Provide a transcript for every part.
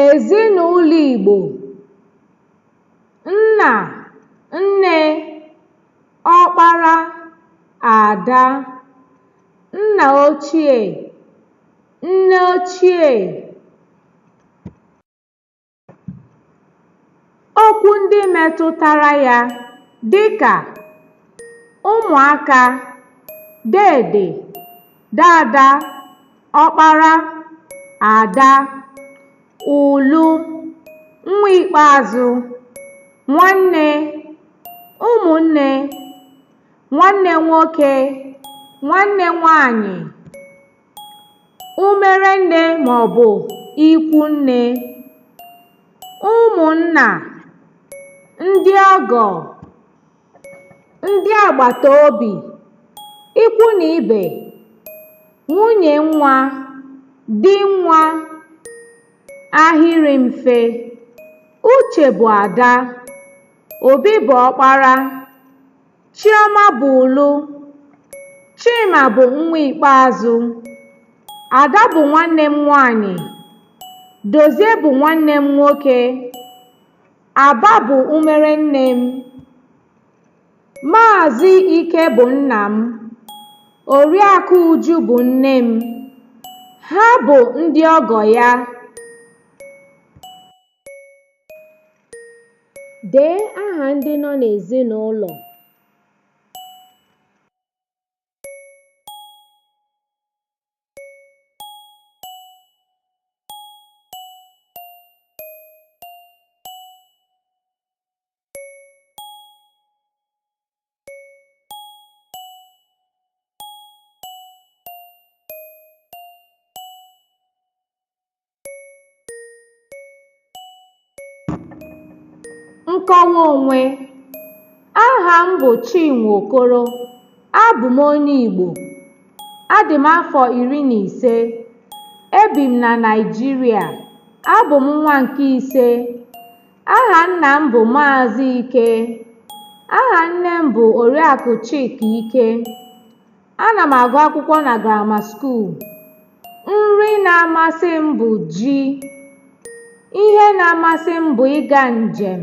Ezinụlọ Igbo, nna, nne, ọkpara, ada, nna ochie, nne ochie. Okwu ndị metụtara ya dịka ụmụaka, deede, daada, ọkpara, ada, ụlụ, nwa ikpeazụ, nwanne, ụmụnne, nwanne nwoke, nwanne nwanyị. Umere nne maọbụ ikwu nne. Ụmụnna, ndị ọgọ, ndị agbata obi, ikwu na ibe, nwunye nwa, di nwa, ahịrị mfe. Uche bụ ada, Obi bụ ọkpara, Chioma bụ ụlụ. Chima bụ nwa ikpeazụ. Ada bụ nwanne m nwaanyị. Dozie bụ nwanne m nwoke. Aba bụ umere nne m. Maazị Ike bụ nna m. Oriakụ Uju bụ nne m. Ha bụ ndị ọgọ ya. Dee aha ndị nọ n'ezinụlọ. Nkọwa onwe Aha m bụ Chinwe Okoro. Abụ m onye Igbo. Adị m afọ iri na ise. Ebi m na Naịjirịa. Abụ m nwa nke ise. Aha nna m bụ Maazị Ike. Aha nne m bụ Oriakụ Chika Ike. Ana m agụ akwụkwọ na grama skuul. Nri na-amasị m bụ ji. Ihe na-amasị m bụ ịga njem.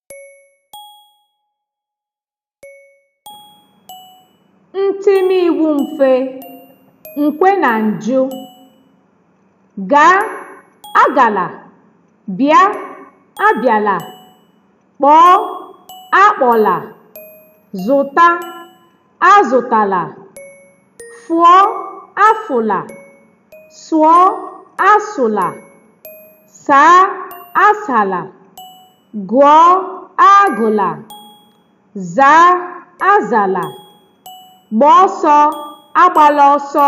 ntimiwu mfe nkwe na njụ gaa agala bịa abịala kpọọ akpọla zụta azụtala fụọ afụla sụọ asụla saa asala Gụọ agụla. Zaa azala. Gbaa ọsọ agbala ọsọ.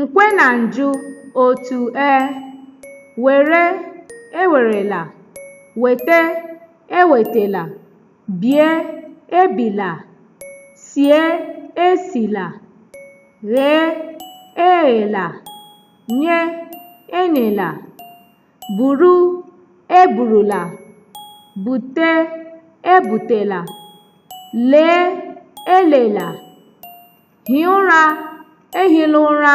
Nkwe na njụ otu e were ewerela wete ewetela bie ebila sie esila ghee eghela nye enyela buru eburula bute ebutela lee elela hie ụra ehila ụra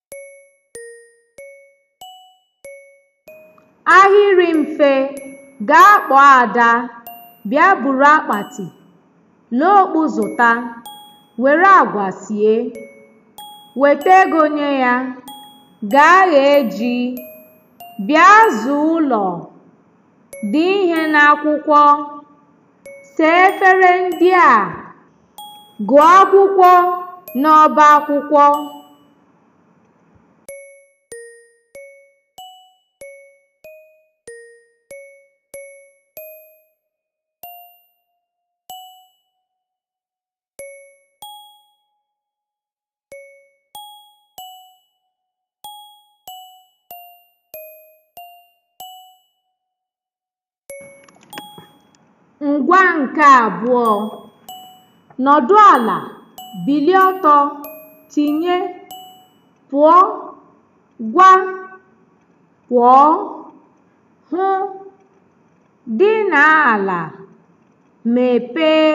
Ahịrị mfe, gaa kpọọ Ada, bịa buru akpati, lee okpu zụta, were agwa sie, weta ego nye ya, gaa ghee ji, bịa zaa ụlọ, dee ihe n'akwụkwọ, saa efere ndị a. Gụọ akwụkwọ n'ọba akwụkwọ. Ngwa nke abụọ. Nọdụ ala, bilie ọtọ, tinye, pụọ, gwa, kwọọ, hụ, dina ala, mepee,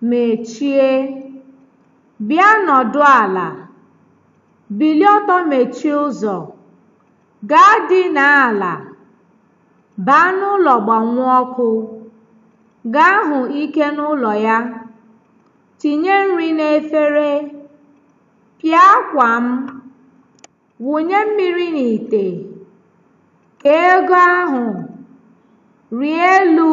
mechie. Bịa nọdụ ala, bilie ọtọ mechie ụzọ, Gaa dinaa ala, baa n'ụlọ gbanwuo ọkụ, gaa hụ Ike n'ụlọ ya, tinye nri n'efere, pịa akwa m, wụnye mmiri n'ite, kee ego ahụ, rịa elu.